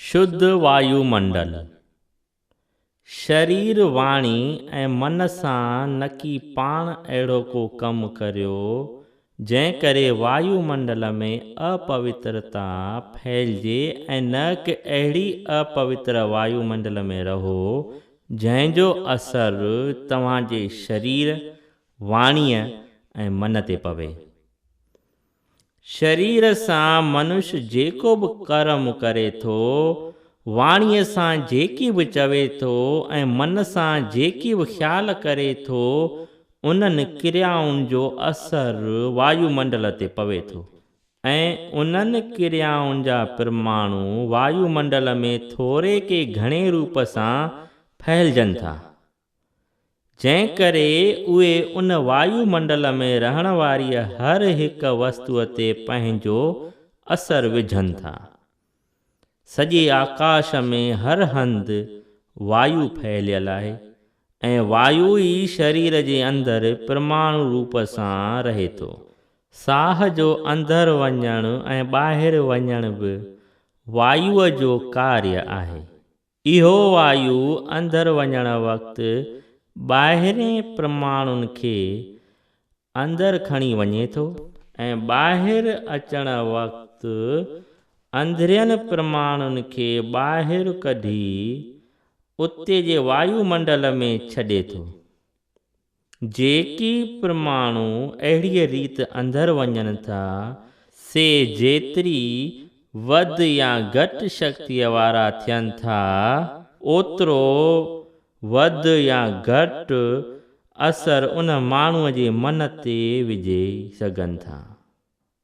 شڌ وايو منڊل، شرير، واڻي ۽ من سان نڪي پاڻ اهڙو ڪو ڪم ڪريو، جنهن ڪري وايو منڊل ۾ اپوترتا ڦهلجي ۽ نه ڪه اهڙي اپوتر وايو منڊل ۾ رهو، جنهن جو اثر توهان جي شرير، واڻيء ۽ من تي پوي. شرير سان منش جيڪو به ڪرم ڪري ٿو، واڻيء سان جيڪي به چوي ٿو ۽ من سان جيڪي به خيال ڪري ٿو، انهن ڪريائن جو اثر وايو منڊل تي پوي ٿو ۽ انهن ڪريائن جا پرماڻو وايو منڊل ۾ ٿوري ڪي گهڻي روپ سان ڦهلجن ٿا. جنهن ڪري اهي ان وايو منڊل ۾ رهڻ واريء هر هڪ وستوء تي پنهنجو اثر وجهن ٿا. سڄي آڪاش ۾ هر هنڌ وايو ڦهليل آهي ۽ وايو ئي شرير جي اندر پرماڻو روپ سان رهي ٿو. ساهه جو اندر وڃڻ ۽ ٻاهر وڃڻ به وايوء جو ڪاريه آهي. اهو وايو اندر وڃڻ وقت ٻاهرين پرماڻون کي اندر کڻي وڃي ٿو ۽ ٻاهر اچڻ وقت اندرين پرماڻون کي ٻاهر ڪڍي اتي جي وايو منڊل ۾ ڇڏي ٿو. جيڪي پرماڻو اهڙيء ريت اندر وڃن ٿا، سي جيتري وڌ يا گهٽ شڪتيء وارا ٿين ٿا، اوترو وڌ يا گهٽ اثر ان ماڻهوء جي من تي وجهي سگهن ٿا.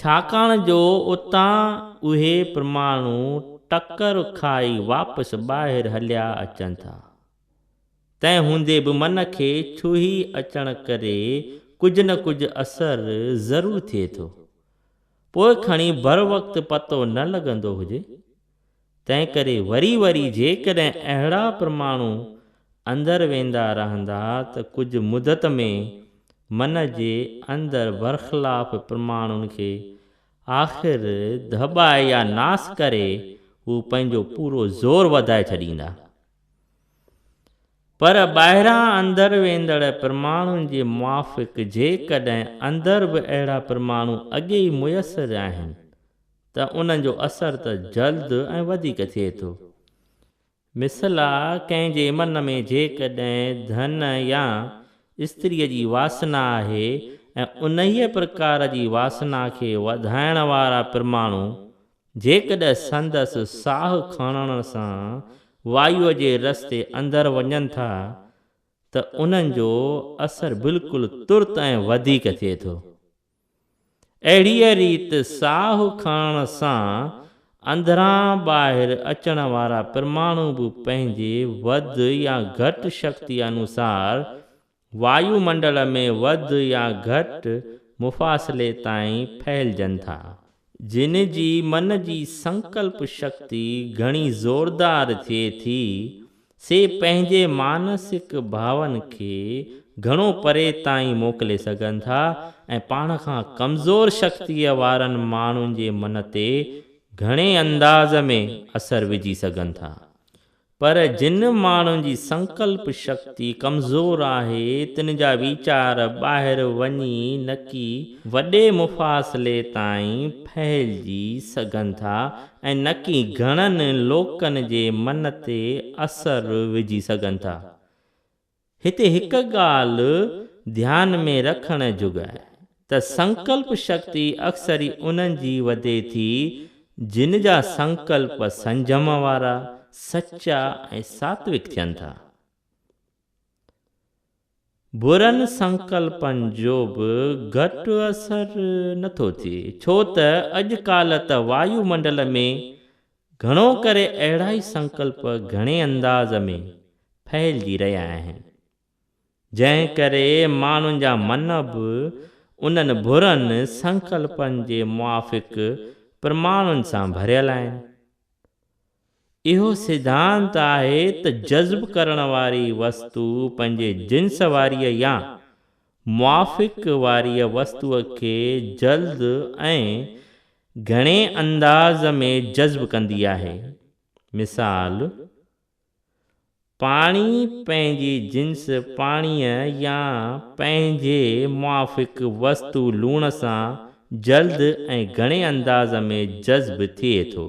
ڇاڪاڻ جو اتان اهي پرماڻو ٽڪر کائي واپس ٻاهر هليا اچن ٿا. تنهن هوندي به من کي ڇهي اچڻ ڪري ڪجهه نه ڪجهه اثر ضرور ٿئي ٿو. پوء کڻي بروقت پتو نه لڳندو هجي. تنهنڪري وري وري جيڪڏهن اهڙا پرماڻو اندر ويندا رهندا ته ڪجهه مدت ۾ من جي اندر برخلاف پرماڻون کي آخر دٻائي يا ناس ڪري هو پنهنجو پورو زور وڌائي ڇڏيندا. پر ٻاهران اندر ويندڙ پرماڻون جي موافق جيڪڏهن اندر به اهڙا پرماڻو اڳي ئي ميسر آهن ته انهن جو اثر ته جلد ۽ وڌيڪ ٿئي ٿو. مثلا ڪنهن جي من ۾ جيڪڏهن ڌن يا استريء جي واسنا آهي ۽ انهيء پرڪار جي واسنا کي وڌائڻ وارا پرماڻو جيڪڏهن سندس ساهه کڻڻ سان وايوء جي رستي اندر وڃن ٿا ته انهن جو اثر بلڪل ترت ۽ وڌيڪ ٿئي ٿو. اهڙيء ريت ساهه کڻڻ سان اندران ٻاهر اچڻ وارا پرماڻو به پنهنجي وڌ يا گهٽ شڪتيء انوسار وايو منڊل ۾ وڌ يا گهٽ مفاصلي تائين ڦهلجن ٿا. جن جي من جي سنڪلپ شڪتي گهڻي زوردار ٿئي ٿي، سي پنهنجي مانسڪ ڀاون کي گهڻو پري تائين موڪلي سگهن ٿا ۽ پاڻ کان ڪمزور شڪتيء وارن ماڻهن جي من تي گهڻي انداز ۾ اثر وجهي سگهن ٿا. پر جن ماڻهن جي سنڪلپ شڪتي ڪمزور آهي، تن جا ويچار ٻاهر وڃي نڪي وڏي مفاصلي تائين ڦهلجي سگهن ٿا ۽ نڪي گهڻن لوڪن جي من تي اثر وجهي سگهن ٿا. هتي هڪ ڳالهه ڌيان ۾ رکڻ جوڳ آهي ته سنڪلپ شڪتي اڪثر ئي انهن جي وڌي ٿي جن جا سنڪلپ سنجم وارا، سچا ۽ ساتوڪ ٿين ٿا. برن سنڪلپن جو به گهٽ اثر نه ٿو ٿئي ڇو ته اڄ ڪالهه ته وايو منڊل ۾ گهڻو ڪري اهڙا ئي سنڪلپ گهڻي انداز ۾ ڦهلجي رهيا آهن، جنهن ڪري ماڻهن جا من به انهن برن سنڪلپن جي موافق پرماڻن سان ڀريل آهن. اهو سڌانت آهي ته جذب ڪرڻ واري وستو پنهنجي جنس واريء يا موافق واريء وستوء کي جلد ۽ گهڻي انداز ۾ جذب ڪندي آهي. مثال، پاڻي پنهنجي جنس پاڻيء يا پنهنجي موافق وستو لوڻ سان جلد ۽ گهڻي انداز ۾ جذب ٿئي ٿو.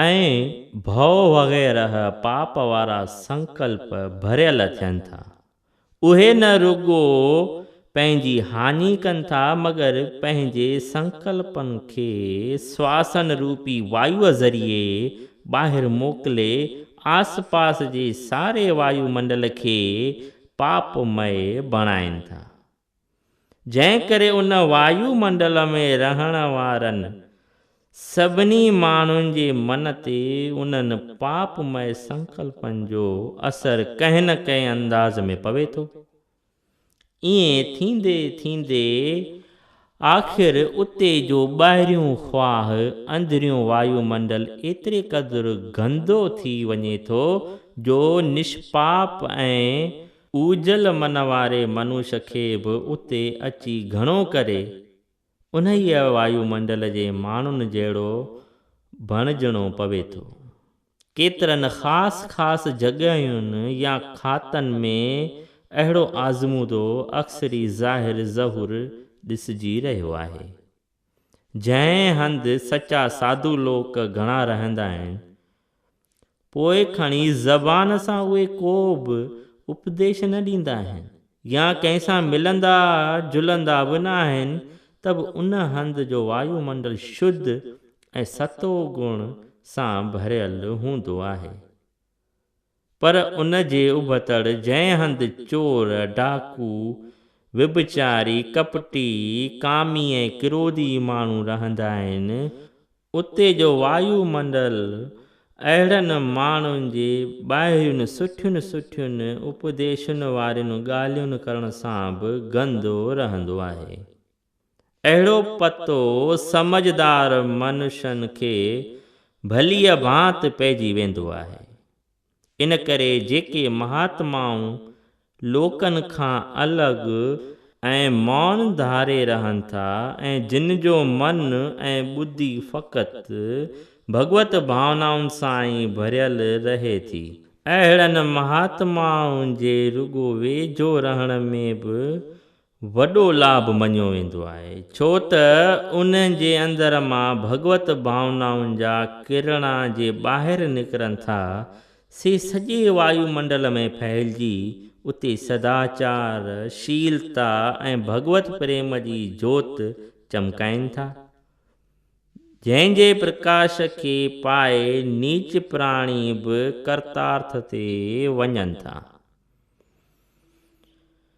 ۽ ڀؤ وغيره پاپ وارا سنڪلپ ڀريل ٿين ٿا. اهي نه رڳو پنهنجي هاڃي ڪن ٿا مگر پنهنجي سنڪلپن کي سواسن روپي وايوء ذريعي ٻاهر موڪلي آس پاس جي ساري وايو منڊل کي پاپ مئي بڻائين ٿا. جنهن ڪري ان وايو منڊل ۾ رهڻ وارن سڀني ماڻهن جي من تي انهن پاپ مئي سنڪلپن جو اثر ڪنهن نه ڪنهن انداز ۾ پوي ٿو. ائين ٿيندي ٿيندي آخر اتي جو ٻاهريون خواهه اندريون وايو منڊل ايتري قدر گندو ٿي وڃي ٿو جو نشپاپ ۽ اوجهل من واري منوش کي به اتي اچي گهڻو ڪري انهيء وايو منڊل جي ماڻهن جهڙو بڻجڻو پوي ٿو. ڪيترن خاص خاص جڳهين يا کاتن ۾ اهڙو آزمودو اڪثري ظاهر ظهور ڏسجي رهيو آهي. جنهن هنڌ سچا ساڌو لوڪ گهڻا رهندا آهن، پوء کڻي زبان سان اهي ڪو به اپديش نه ڏيندا آهن يا ڪنهن سان ملندا جلندا به نه آهن ته به ان هنڌ جو وايو منڊل شڌ ۽ ستو گڻ سان ڀريل هوندو آهي پر ان جي ابتڙ جنهن هنڌ چور، ڊاڪو، وڀچاري، ڪپٽي، ڪامي ۽ ڪرودي ماڻهو رهندا آهن اتي جو وايو منڊل اهڙن ماڻهن جي ٻاهرين سٺين سٺين اپديشن وارين ڳالهين ڪرڻ سان به گندو رهندو آهي. اهڙو پتو سمجهدار منشن کي ڀليء ڀانت پئجي ويندو آهي. ان ڪري جيڪي مهاتمائون لوڪن کان الڳ ۽ مئن ڌاري رهن ٿا ۽ جن جو من ۽ ٻڌي فقط ڀڳوت ڀاونائن سان ئي ڀريل رهي ٿي، اهڙن مهاتمائن جي رڳو ويجهو رهڻ ۾ به وڏو لاڀ مڃيو ويندو آهي، ڇو ته انهن جي اندر مان ڀڳوت ڀاونائن جا ڪرڻا جي ٻاهر نڪرن ٿا، سي سڄي وايو منڊل ۾ ڦهلجي اتي سداچار، شيلتا ۽ ڀڳوت پريم جي جوت چمڪائين ٿا، جنهن جي پرڪاش کي پائي نيچ پراڻي به ڪرتارٿ تي وڃن ٿا.